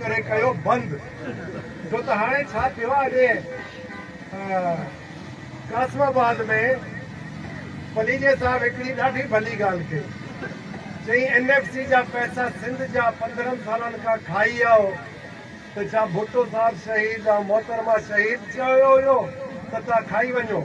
ڪري ڪيو بند ڇو ته هاڻي ڇا ٿيو آهي قاسم آباد ۾ پليجي صاحب هڪڙي ڏاڍي ڀلي ڳالهه ڪئي چئي اين ايف سي جا پئسا سنڌ جا پندرهن سالن کان کائي آئو ته ڇا ڀٽو صاحب شهيد ۽ محترمه شهيد چيو هيو ته تان کائي وڃو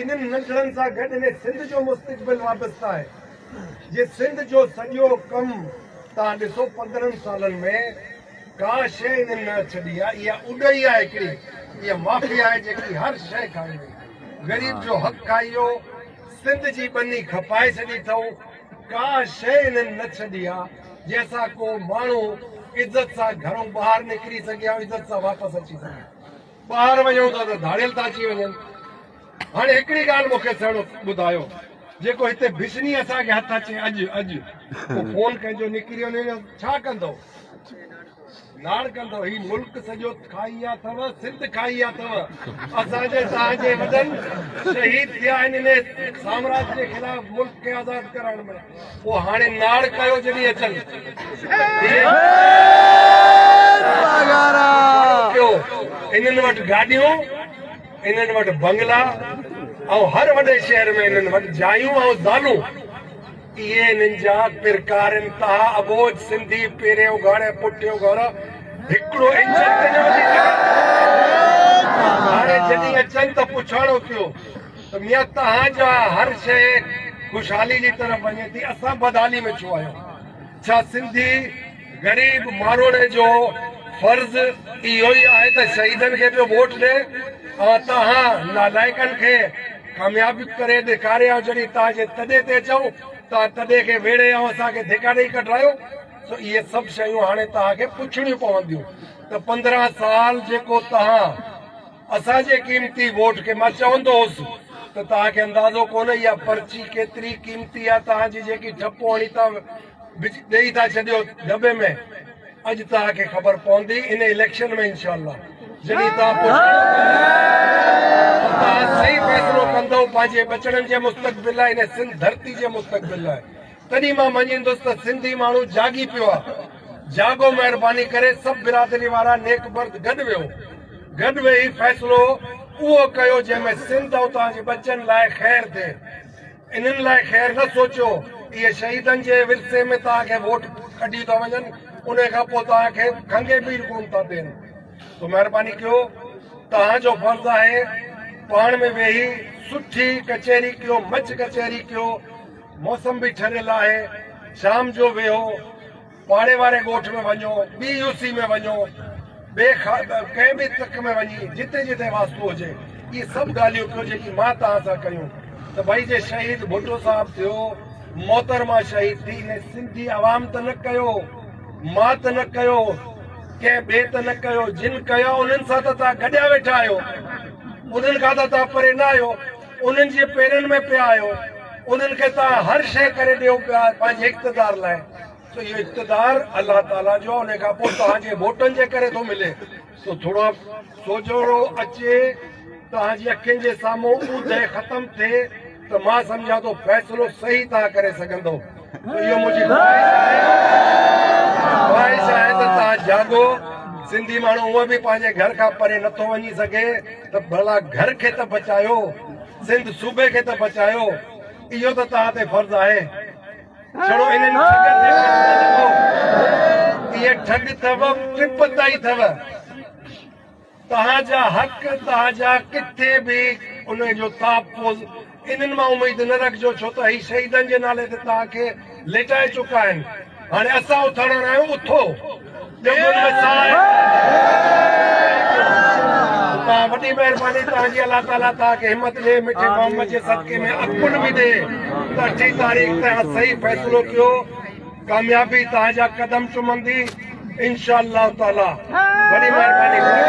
انهن ننڍڙن سان گڏ انهي سنڌ جو مستقبل وابسته آهي جي سنڌ جو سڄو ڪم توهان ڏسو پندرهن سالن ۾ ڪا شيء انهن نه ڇڏي آهي اها اڏهي آهي هڪڙي اها مافيا آهي جيڪي هر شيء کائي وئي غريب جو حق کائي ويو سنڌ جي ٻني کپائي ڇڏي اٿئون ڪا شيء انهن نه ڇڏي آهي جنهن سان ڪو ماڻهو عزت سان گهرئون ٻاهر نڪري سگهي ۽ عزت سان واپس اچي سگهي ٻاهر وڃون ٿا ته ڌاڙيل ٿا اچي وڃن. هاڻي هڪڙي ڳالهه مون کي سهڻو ٻڌايو، جيڪو هتي بسني اسان کي هٿ اچي اڄ اڄ ڪو خون ڪنهن جو نڪري وڃي ته ڇا ڪندئو؟ لاڙ ڪندئو؟ هي ملڪ سڄو کائي ويا اٿئو، سنڌ کائي ويا اٿئو. اسان جي توهان جي وڏن شهيد ٿيا آهن انهي سامراج جي خلاف ملڪ کي آزاد ڪرائڻ ۾. او هاڻي ناڙ ڪايو جڏهن اچن ٿيو انهن وٽ گاڏيون انهن وٽ بنگلا ۽ هر وڏي شهر ۾ انهن وٽ جايون ۽ زالون اهي انهن جا پرڪار انتها ابوج سنڌي پهريون گهر ۽ پٺيون گهر هڪڙو انجن تي نه وڌي سگهن ٿا هاڻي جڏهن اچن ته پڇاڻو ٿيو سميت توهان جا هر شئي خوشحالي جي طرف وڃي ٿي اسان بدحالي ۾ ڇو آهيون ڇا سنڌي غريب ماروئڙي جو فرض اهو ئي آهي ته شهيدن کي پيو ووٽ ڏي اوهان توهان نالائقن کي ڪامياب ڪري ڏيکاري آهيو جڏهن توهان جي تڏي تي چئون توهان تڏي کي ويڙهي اوهان اسان کي ڌڪا ڏئي ڪڍرايو سو اهي سڀ شيون هاڻي توهان کي پڇڻيون پونديون ته پندرهن سال جيڪو توهان اسان جي قيمتي ووٽ کي مان چوندو هوس ته توهان کي اندازو ڪونه اها پرچي ڪيتري قيمتي آهي توهان جي جيڪي ٺپو هڻي ٿا ڏئي ٿا ڇڏيو دٻي ۾ اڄ توهان کي خبر پوندي ان اليڪشن ۾ انشاء الله جڏهن توهان توهان صحيح فيصلو ڪندو پنهنجي ٻچڙن جي مستقبل لاء ان سنڌ ڌرتي جي مستقبل لاء تڏهن مان مڃيندس ته سنڌي ماڻهو جاڳي پيو آ. جاڳو مهرباني ڪري سڀ برادري وارا نيڪ مرد گڏ ويهو. گڏ ويهي فيصلو اهو ڪيو جنهن ۾ سنڌ ۽ اتان جي ٻچن لاء خير ٿئي. انهن لاء خير نه سوچيو. اهي شهيدن جي ورثي ۾ توهان کي ووٽ ڪڍي ٿا وڃن انهي کان پوء توهان کي کنگهي ٻيڙ ڪون ٿا ڏين. سو مهرباني ڪيو توهان جو فرض آهي پاڻ ۾ ويهي سٺي ڪچهري ڪيو مچ ڪچهري ڪيو. موسم به ٺريل آهي شام جو ويهو پاڙي واري ڳوٺ ۾ وڃو ٻي يو سي ۾ وڃو ٻي ڪنهن به تڪ ۾ وڃي جتي جتي واسطو هجي اهي سڀ ڳالهيون ڪيو جيڪي مان توهان سان ڪيون ته ڀئي جي شهيد ڀٽو صاحب ٿيو محترمه شهيد ٿي هن سنڌي عوام ته نه ڪيو مان ته نه ڪيو ڪنهن ٻئي ته نه ڪيو جن ڪيو انهن سان ته توهان گڏيا ويٺا آهيو انهن کان ته توهان پري نه آهيو انهن جي پيرن ۾ پيا آهيو، انهن کي توهان هر شيء ڪري ڏيو پيا پنهنجي اقتدار لاء، سو اهو اقتدار الله تعاليٰ جو آهي، انهيء کان پوء توهان جي ووٽن جي ڪري ٿو ملي. سو ٿورو سوجهرو اچي توهان جي اکين جي سامهون اوندهه ختم ٿئي ته مان سمجهان ٿو فيصلو صحيح توهان ڪري سگهندئو. اهو منهنجي خواهش آهي ته توهان جاڳو. سنڌي ماڻهو هونء به پنهنجي گهر کان پري نٿو وڃي سگهي ته ڀلا گهر کي ته بچايو، سنڌ صوبي کي ته بچايو. اهو ته توهان تي فرض آهي. ڇڙو انهن ٺڳن تي ڪجهه نه لکو. اهي ٺڳ اٿو، ٽپ تائين اٿو. توهان جا حق توهان جا ڪٿي به انهي جو تحفظ انهن مان اميد نه رکجو ڇو ته هي شهيدن جي نالي تي توهان کي ليٽائي چڪا آهن هاڻي اسان اٿاڻڻ آهيون اٿو ڄنگهن ۾ ساهه کڻو وڏي مهرباني توهان جي الله تعالي توهان کي همت ڏي مٺي محمد جي صدقي ۾ عقل به ڏي ته اٺين تاريخ تي صحيح فيصلو ڪيو ڪاميابي توهان جا قدم چمندي انشاء الله تعالي وڏي مهرباني ڪندو.